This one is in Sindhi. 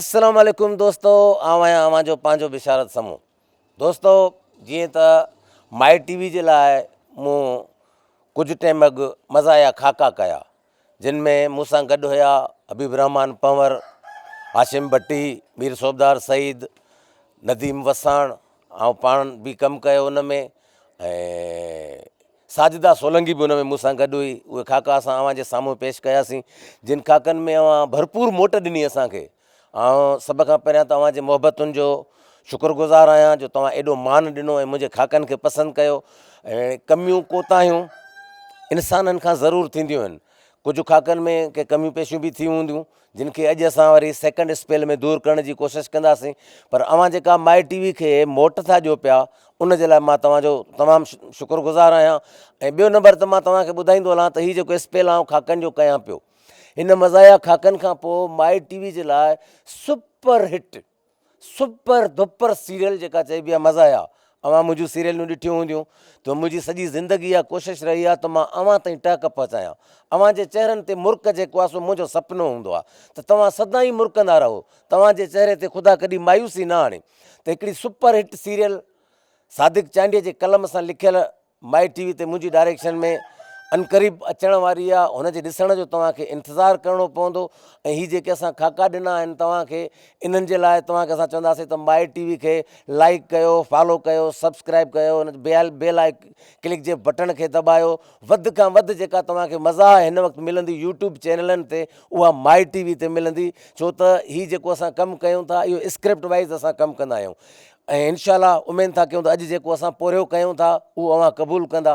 السلام عليڪم دوستو آئون آهيان اوهان جو پنهنجو بشارت سمون دوستو جيئن ته مائي ٽي وي جي لاء مون ڪجهه ٽيم اڳ مزاحيه خاڪا ڪيا جن ۾ مون سان گڏ هيا حبيب الرحمان پنور هاشم ڀٽي مير صوبدار سعيد نديم وساڻ آئون پاڻ به ڪم ڪيو ان ۾ ساجده سولنگي به ان ۾ مون سان گڏ هئي. اهي خاڪا اسان اوهان جي سامهون پيش ڪياسين، جن خاڪن ۾ اوهان ڀرپور موٽ ڏني اسان کي. آئون سڀ کان پهريان ته اوهان جي محبتن جو شڪر گذار آهيان، جو توهان ايڏو مان ڏنو ۽ منهنجي خاڪن کي پسند ڪيو. اهڙين ڪميون ڪوتاهيون انسانن کان ضرور ٿينديون آهن. ڪجهه خاڪن ۾ ڪي ڪميون پيشيون به ٿيون هونديون. جن کي اڄ اسان وري سيڪنڊ اسپيل ۾ دور ڪرڻ جي ڪوشش ڪنداسين پر اوهان جيڪا مائي ٽي وي کي موٽ ٿا ڏيو پيا ان جي لاء مان توهان جو تمام شڪر گذار آهيان ۽ ٻيو نمبر ته مان توهان کي ٻڌائيندو هلان ته هي جيڪو اسپيل آئون کاڪن جو ڪيان پيو ان مزايا کاڪن کان پوء مائي ٽي وي جي لاء super hit super duper serial جيڪا چئبي آ مزا آيا اوهان منهنجون سيريلون ڏٺيون هونديون ته منهنجي سڄي زندگي اها ڪوشش رهي آ ته مان اوهان تائين ٽهڪ پهچايان اوهان جي چهرن تي مرڪ جيڪو آ سو منهنجو سپنو هوندو آ ته توهان سدائين مرڪندا رهو توهان جي چهري تي خدا ڪڏهن مايوسي نه آڻي ته هڪڙي super hit serial Sadiq Chandio جي قلم سان لکيل مائي ٽي وي تي منهنجي ڊائريڪشن ۾ عنقريب اچڻ واري آهي هن جي ڏسڻ جو توهان کي انتظار ڪرڻو پوندو ۽ هي جيڪي اسان خاڪا ڏنا آهن توهان کي انهن جي لاء توهان کي اسان چونداسين ته مائي ٽي وي کي لائيڪ ڪيو فالو ڪيو سبسڪرائيب ڪيو ان بيل بيل آئي ڪلڪ جي بٽڻ کي دٻايو وڌ کان وڌ جيڪا توهان کي مزا هن وقت ملندي يوٽيوب چينلن تي اها مائي ٽي وي تي ملندي ڇو ته هي جيڪو اسان ڪم ڪيون ٿا اهو اسڪرپٽ وائز اسان ڪم ڪندا آهيون ۽ انشاء الله اميد ٿا ڪيون ته اڄ جيڪو اسان پورهيو ڪيون ٿا اهو اوهان قبول ڪندا.